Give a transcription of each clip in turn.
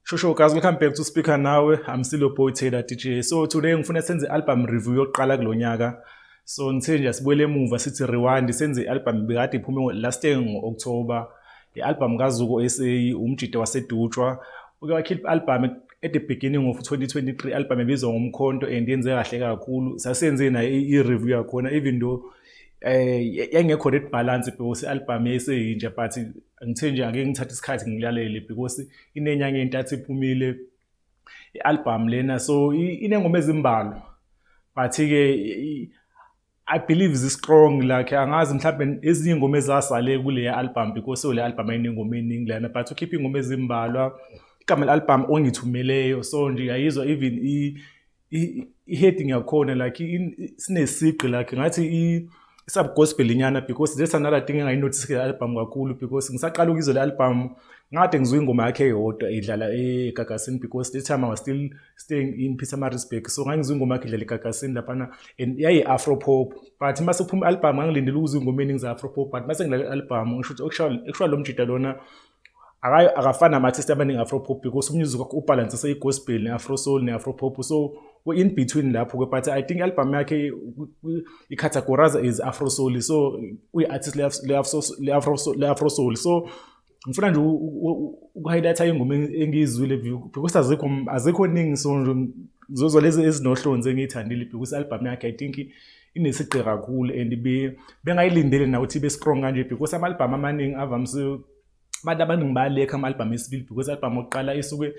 Shosho guys welcome back to speaker nawe I'm still your boy Taylor DJ so today ngifuna senze album review yokuqala kulonyaka so ngithe nje sibuyele emuva sithi rewind senze album bekade iphume last year ngo October i-album kaZuko SA umjita wasedutshwa uke wakhipha i-album at the beginning of 2023 album ebizwa ngomkhonto and yenze kahle kakhulu sasenze nayo i-review yakhona even though eh yayingekho red balance because i-album yayiseyintsha but ngithe nje ake ngithathe isikhathi ngilalele because inenyanga entathu iphumile i-album lena so inengoma ezimbalwa but-ke I believe is strong like angazi mhlawumbe ezinye ingoma ezasale kule album because ole album ayinengoma eningi lana but ukhipha ingoma ezimbalwa igama le album ongithumeleyo so nje yayizwa even i i-heading yakhona like sinesigqi like ngathi i-subgospel inyana because that's another thing engayinothisi kule album kakhulu because ngisaqala ukuyizwa le album ngade ngizwa ingoma yakhe yodwa idlala egagasini because this time i was still staying in Pietermaritzburg so ngangizwa ingoma yakhe idlala egagasini laphana and yayi-afro pop but uma sekuphuma i-albhamu ngangilindele ukuzwa ingoma eningi za-afro pop but uma sengidlala i-albhamu ngisho ukuthi okushawa lo mjida lona akafani nama-artist abaningi afro pop because umusic wakhe ubhalanse seyi-gospel ne-afro soul ne-afro pop so in between lapho-ke but i think i-album yakhe i-categorize is afro soul so uyi-artist le-afro soul so ngifuna nje ukuhighlighta ingoma engiyizwile because azikho azikho ningi so nje ngizozwa lezi ezinohlonzi engiyithandile because i-album yakhe i think inesigqi kakhulu and bengayilindele na ukuthi ibe strong kanje because ama-albhamu amaningi avamise abantu abaningi bayalekha ama-albhamu esibili because i-albhamu okuqala isuke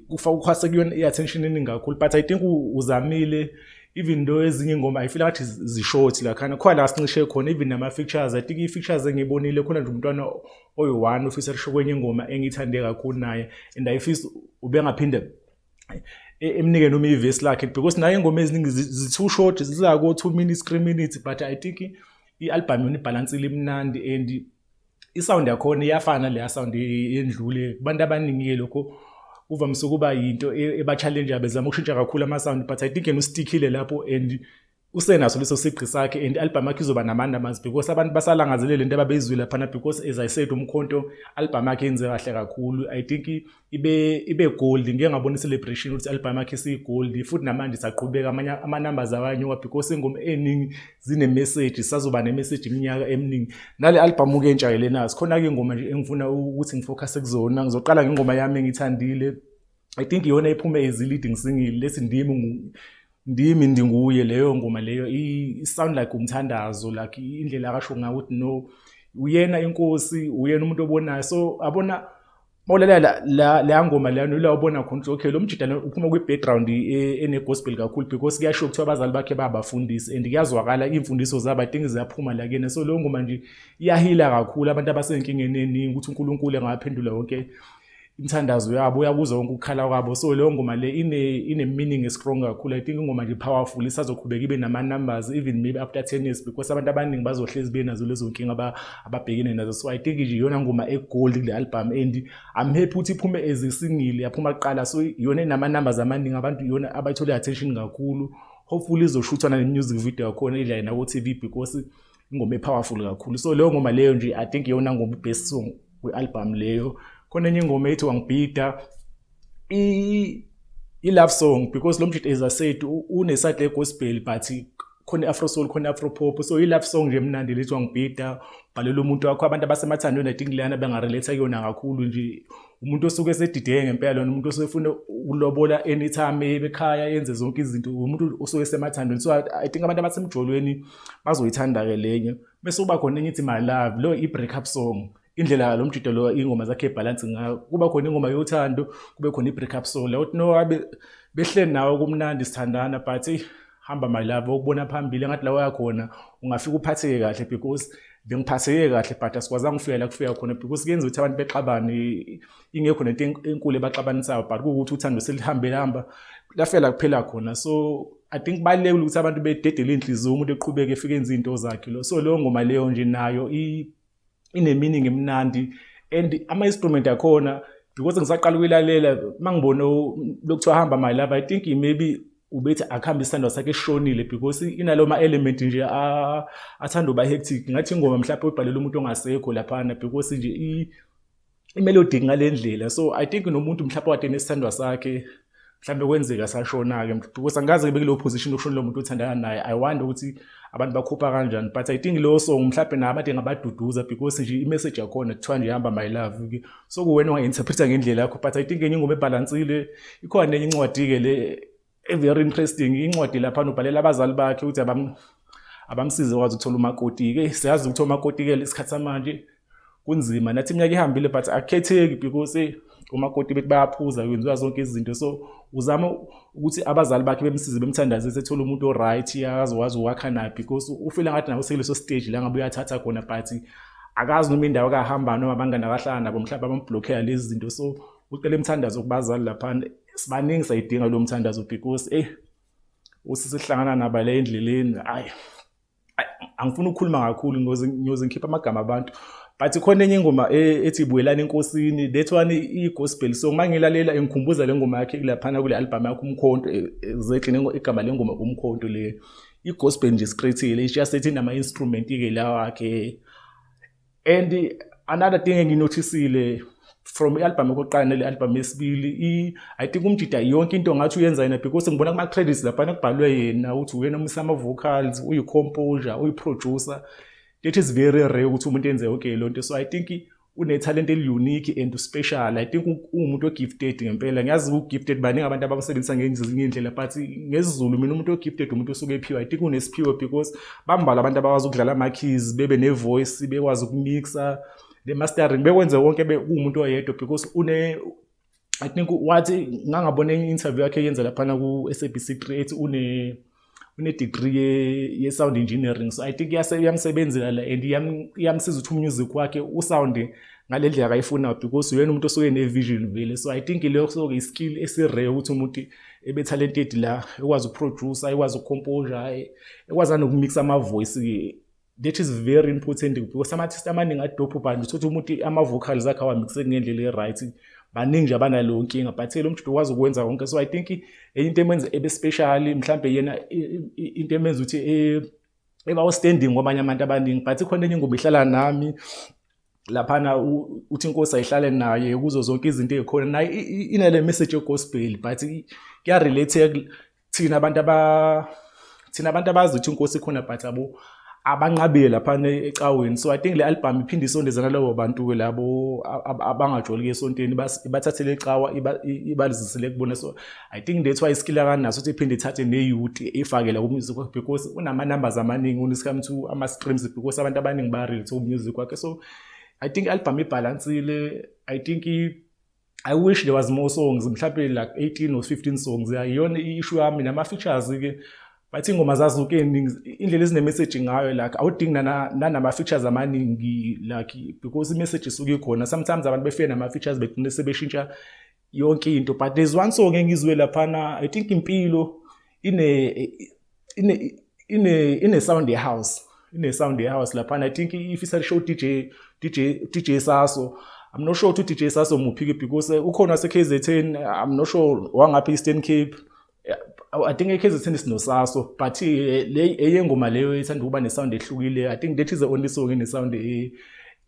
kufa ukhwase kuyona i-attention eningi kakhulu but i think uzamile even though ezinye ingoma i feel ngathi zishort la khana khona la sincishe khona even nama features i think i features engibonile khona nje umntwana oyi-one ofisa lisho kwenye ingoma engiyithande kakhulu naye and i feel ubengaphinde e, emnike noma ivesi lakhe because naye ingoma eziningi zi-two short zizako two minutes three minutes but i think i-albhamu yona ibhalansile imnandi and isound yakhona iyafana leya sound yendlule kubantu abaningi-ke lokho kuvamise ukuba yinto e, eba-challenge bezama ukushintsha kakhulu ama-sound but i think yena ustikhile lapho and usenaso leso sigqi sakhe and i-albhamu yakhe izoba nama-numbers because abantu basalangazelele into ababeyizwile laphana because as i said umkhonto albhamu yakhe yenze kahle kakhulu i think ibe ibe gold ngike ngabona celebration ukuthi album yakhe si gold futhi namanje saqhubeka amanye ama numbers awanyuka because ingoma eningi zine message sazoba ne message iminyaka eminingi nale album ke entsha lena sikhona ke ingoma nje engifuna ukuthi ngifocus kuzona ngizoqala ngengoma yami engithandile i think iyona iphume as leading single lesi ndimi ndimi ndinguye leyo ngoma leyo i sound like umthandazo like indlela akasho ngayo ukuthi no uyena inkosi uyena umuntu obonayo so abona Mawulalela la, la, la ngoma lana yila ubona khona ukuthi okay lo mjida lona uphuma kwi-background e- ene-gospel kakhulu because kuyasho kuthiwa abazali bakhe babafundisi and kuyazwakala iy'mfundiso zabo i think ziyaphuma la kuyena so leyo ngoma nje iyahila kakhulu abantu abasenkingeni eningi ukuthi unkulunkulu engaphendula yonke imithandazo yabo uyakuzwa wonke ukukhala kwabo so leyo ngoma le ine ine-meaning estrong kakhulu i think ingoma nje powerful isazoqhubeka ibe nama-numbers even maybe after ten years because abantu abaningi bazohlezi benazo lezo nkinga ba- ababhekene nazo so i think nje iyona ngoma egold kule album and i'm happy ukuthi iphume as a single yaphuma kuqala so iyona enama numbers amaningi abantu iyona abayithola attention kakhulu hopefully izoshuthana ne music video yakhona idla na ku TV because ingoma epowerful kakhulu so leyo ngoma leyo nje i think iyona ngoma best song kwi album leyo khona enye ingoma ethi wangibhida i i love song because lo mjita as I said une side gospel but khona afro soul khona afro pop so i love song nje mnandi lethwa ngibhida bhalela umuntu wakho abantu abasemathandweni i think leyana benga relate kuyona kakhulu nje umuntu osuke esedideke ngempela lona umuntu osuke efuna ukulobola anytime ebekhaya yenze zonke izinto umuntu osuke esemathandweni so i think abantu abasemjolweni bazoyithanda ke lenye bese uba khona enye ithi my love lo i break up song indlela lo mjido lo ingoma zakhe ibhalansi ngayo kuba khona ingoma yothando kube khona i-break up song la uthi no abe behleli nawe kumnandi sithandana but eyi hamba my love ukubona phambili engathi la wayakhona ungafika uphatheke kahle because bengiphatheke kahle but asikwazanga ukufika la kufika khona because kuyenza ukuthi abantu bexabane ingekho nento enkulu ebaxabanisayo but kuwukuthi uthando selihambe lihamba lafela kuphela khona so I think balekile ukuthi abantu bededele inhliziyo umuntu eqhubeke efike enze into zakhe lo so leyo ngoma leyo nje nayo i ineminingi emnandi and ama-instrument akhona because ngisaqala ukuyilalela uma ngibone lokuthiwa hamba my love i think maybe ubethi akuhambe isithandwa sakhe eshonile because inalo ma-element nje athanda uba hectic ngathi ingoma mhlawumpe uyibhalele umuntu ongasekho laphana because nje imelody ngalendlela so i think nomuntu mhlawumbe wade nesithandwa sakhe mhlawumbe kwenzeka sashona-ke because angikaze bekuleyo position yokushona lo muntu othandana naye i wonder ukuthi abantu bakhupha kanjani but i think lowo song mhlawumbe nabo abade ngabaduduza because nje imessage yakhona kuthiwa nje hamba my love-ke so kuwena ungayinterpreta ngendlela yakho but i think enye ingoma ebhalansile ikhona enye incwadi-ke le very interesting incwadi lapha ubhalela abazali bakhe ukuthi abamsize kwazi ukuthola umakoti ke siyazi ukuthi omakoti ke lesikhathi samanje kunzima nathi iminyaka ihambile but akukhetheki because umakoti bethi bayaphuza kwenziwa zonke izinto so uzama ukuthi abazali bakhe bemsize bemthandaze sethole umuntu oright akazi wazi wakha naphi because ufile ngathi nawo sekuleso stage la ngabe uyathatha khona but akazi noma indawo akahamba noma abangani akahlala nabo mhlawumbe abamblockela lezi zinto so ucela imthandazo kubazali laphana sibaningi sayidinga lo mthandazo because eyi usisihlangana naba le endleleni ayi angifuni ukukhuluma kakhulu ngiyoze ngikhiphe amagama abantu but khona enye ingoma e, ethi buyelani enkosini that one i-gospel so uma ngilalela ngikhumbuza le ngoma yakhe kulaphana kule albhamu yakho umkhonto e, exactly igama le ngoma umkhonto le i-gospel nje straight-ile ishiya sethi nama-instrument-ke la wakhe and another thing enginothisile from i-albhamu yokuqala nele albhamu yesibili i think umjida yonke into ngathi uyenza yena because ngibona kuma-credits laphana kubhalwe yena ukuthi uyena umisa ama-vocals uyi-composure uyi-producer that is very rare ukuthi umuntu enze yonke loo nto so i think unethalente eliunique and uspecial i think uwumuntu ogifted ngempela ngiyazi ugifted baningi abantu abamsebenzisa ngezinye iy'ndlela but ngesizulu mina umuntu ogifted umuntu osuke ephiwe i think unesiphiwo because bambalwa abantu abakwazi ukudlala ama-keys bebe ne-voice bekwazi ukumixa ne-mastering bekwenze wonke kuwumuntu oyedwa because une i think wathi ngangabona enye interview yakhe yenza laphana ku-sabc 3 ethi une une-degree ye-sound ye engineering so i think iyamsebenzela la and iyamsiza ukuthi umusic wakhe usound ngale ndlela akayifunayo because uyena umuntu osuke ne-vision vele so i think leyo soke i-skill esirare ukuthi umuntu ebe talented la ekwazi ukuproducer ekwazi ukucomposer ekwazi anokumixa amavoice that is very important because ama-artist amaningi adophu bani uthothi umuntu ama-vocals akhe awamixe ngendlela e-right baningi nje abanaleyo nkinga but lo mjudo ukwazi ukwenza konke so i think enye into emenza ebe special mhlawumbe yena into emenza ukuthi e, eba-standing kwabanye abantu abaningi but ikhona enye ingoma ihlala nami laphana uthi inkosi ayihlale naye kuzo zonke izinto ezikhona naye inale message yegospel but kuya relate thina abantu aba thina abantu abazi ukuthi inkosi ikhona but abo abanqabile laphana ecaweni so i think le album iphinde isondezana labo bantu labo abangajoli esontweni ibathathele ecawa ibalizisele kubona so I think that's why iskill akanaso ukuthi iphinde ithathe ne-youth ifakele ku-music wakhe because unama-numbers amaningi uniscome to ama-streams because abantu abaningi ba-relate ku-music wakhe so i think i-album ibhalansile i think i wish there was more songs mhlawumbe like 18 or 15 songs iyona i-issue yami nama-features-ke bathi ingoma zazuke eningi indlela ezinemessage ngayo like awudingi nanama-features amaningi like because imessage isuke ikhona sometimes abantu befike nama-features begcine sebeshintsha yonke into but there's one song engizwe laphana i think impilo ine ine ine ine sound ye house ine sound ye house laphana i think if isa show DJ DJ DJ Saso I'm not sure ukuthi DJ Saso muphi because ukhona se KZN I'm not sure wangaphi Eastern Cape I think iKaizer Chiefs sinosaso but eh, le eyengoma leyo ithanda ukuba nesound ehlukile I think that is the only song ene sound e,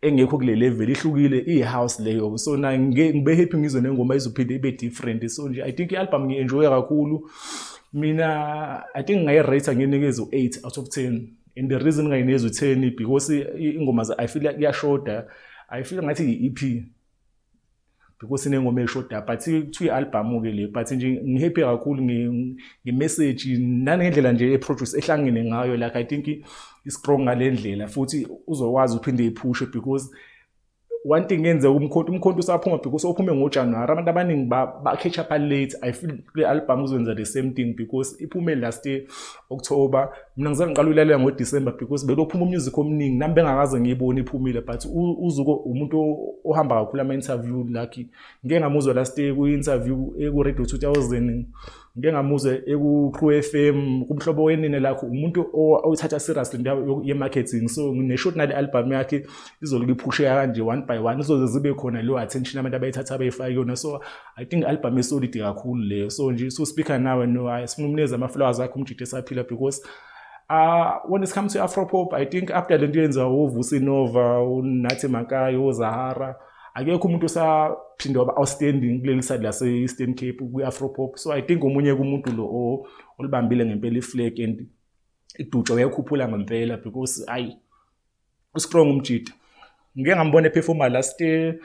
engekho kule level ihlukile i house leyo so na ngibe happy ngizwe nengoma izophinde ibe different so nje I think ialbum ngi enjoy kakhulu mina I think ngayi rate nginikeza u8 out of 10 and the reason ngayineza u10 because ingoma I feel kuyashoda I feel ngathi i EP because inengoma eshoda but kuthiwa i-albhamu ke le but nje ngihappy kakhulu ngemessage nangendlela nje eproduce ehlangene ngayo like i think i-strong ngale ndlela futhi uzokwazi uphinde iphushe because one thing yenzeka umkhonto umkhonto usaphuma because ophume ngojanuwari abantu abaningi ba-catch up late i feel kule albhamu uzokwenza the same thing because iphume last october mina ngize ngiqala uyilalela ngo-december because bekophuma umusic omningi nami bengakaze ngiyibone iphumile but uzuko umuntu ohamba kakhulu ama-interview lucky ngike ngamuzwa last year kwi-interview eku-radio 2000 ngike ngamuzwa eku-crew f m kumhlobo wenine lakho umuntu oyithatha seriously into ye-marketing so ngineshot nale albhamu yakhe izolike iphusheka kanje one by one izoze zibe khona leyo attention abantu abayithatha abayifaki yona so I think album esolid kakhulu leyo so nje so speaker nawe no hayi sifuna umnikeze ama flowers akhe umjide esaphila because Uh, when it comes to afropop i think after le nto yenziwa wovusi nova unathi makayi ozahara akekho umuntu osaphinde waba outstanding kuleli side lase-eastern cape kwi-afropop so i think omunye kumuntu lo olibambile ngempela iflag and idutshwa uyayikhuphula ngempela because ayi uStrong umjita ngike ngambona ephefuma last year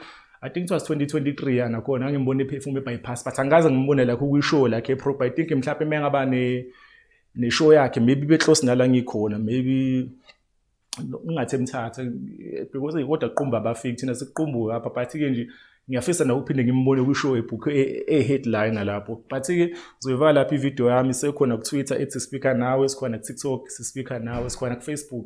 I think it was 2023 yana khona ngimbona ephefuma ebypass but angikaze ngimbone lakho kwishow lakhe eprobe I think mhlawumbe mengaba ne neshow yakhe maybe beclose nala ngikhona maybe ungathi emthatha because kodwa qumba abafiki thina siqumbuke apha but ke nje ngiyafisa nakuphinde ngimbone kwishow ebhukhe e-headline lapho but ke zoyivaka lapha ivideo yami sekhona ku-twitter ethi speaker nawe sikhona ku-tiktok sispeaker nawe sikhona ku-facebook